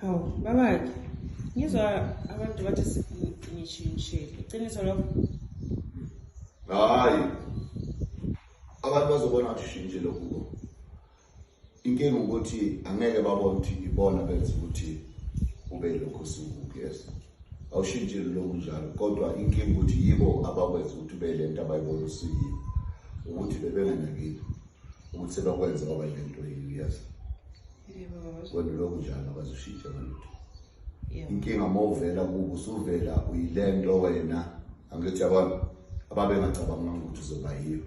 hawu babake ngizwa abantu bathi ngishintshile iqiniso lokho hayi abantu bazobona ukuthi ushintshile kubo inkinga ukuthi angeke babone ukuthi ibona benza ukuthi ube lokho sikubi yes awushintshile lokhu njalo kodwa inkinga ukuthi yibo abakwenza ukuthi ube le nto abayibona usiyiyo ukuthi bebenganakile ukuthi bakwenze kwaba lento yes wena lokhu njalo abazoshintsha ngalutho inkinga uma uvela kubo usuvela uyile nto wena angithi yabona ababengacabanganga ukuthi uzoba yiyo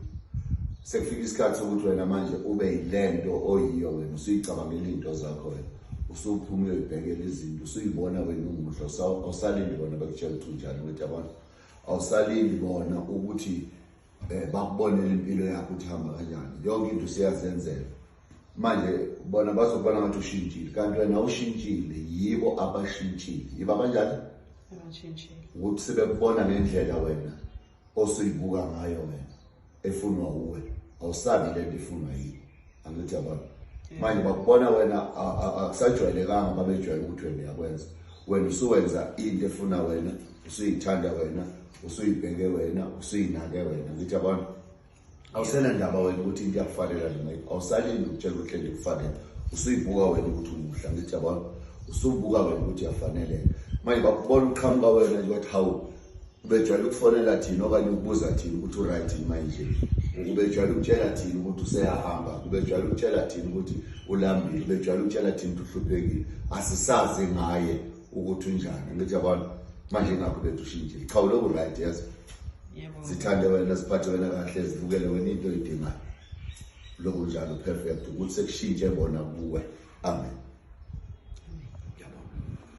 sekufika isikhathi sokuthi wena manje ube yile nto oyiyo wena usuyicabangela iy'nto zakho wena usuphuma uyoyibhekela izinto usuyibona wena umuhle awusalindi bona bakutshela ukuthi unjani ukuthi yabona awusalindi bona ukuthi eh bakubonela impilo yakho ukuthi hamba kanjani yonke into siyazenzela manje bona bazokubona ngathi ushintshile kanti wena ushintshile yibo abashintshile yiba kanjani abashintshile ukuthi sebekubona ngendlela wena osuyibuka ngayo wena efunwa uwe awusabi lento ifunwa yini angithi yabona manje bakubona wena akusajwayelekanga babejwayele ukuthi wena uyakwenza wena usuwenza into efuna wena usuyithanda wena usuyibheke wena usuyinake wena ngithi yabona awusena ndaba wena ukuthi into iyakufanela noma awusalindi ukutshela ukuthi lento ikufanele usuyibuka wena ukuthi umuhla ngithi yabona usubuka wena ukuthi uyafaneleka manje bakubona uqhamuka wena nje wathi hawu Ubejwayele ukufonela thina okanye ukubuza thina ukuthi uright yini manje. Ubejwayele ukutshela thina ukuthi useyahamba. Ubejwayele ukutshela thina ukuthi ulambile. Ubejwayele ukutshela thina ukuthi uhluphekile. Asisazi ngaye ukuthi unjani. Ngithi yabona manje ngakho bethu ushintshile. Cha uloku right yazi. Yebo. Sithande wena siphathe wena kahle sivukele wena into oyidingayo. Lokho njalo perfect ukuthi sekushintshe bona kuwe. Amen.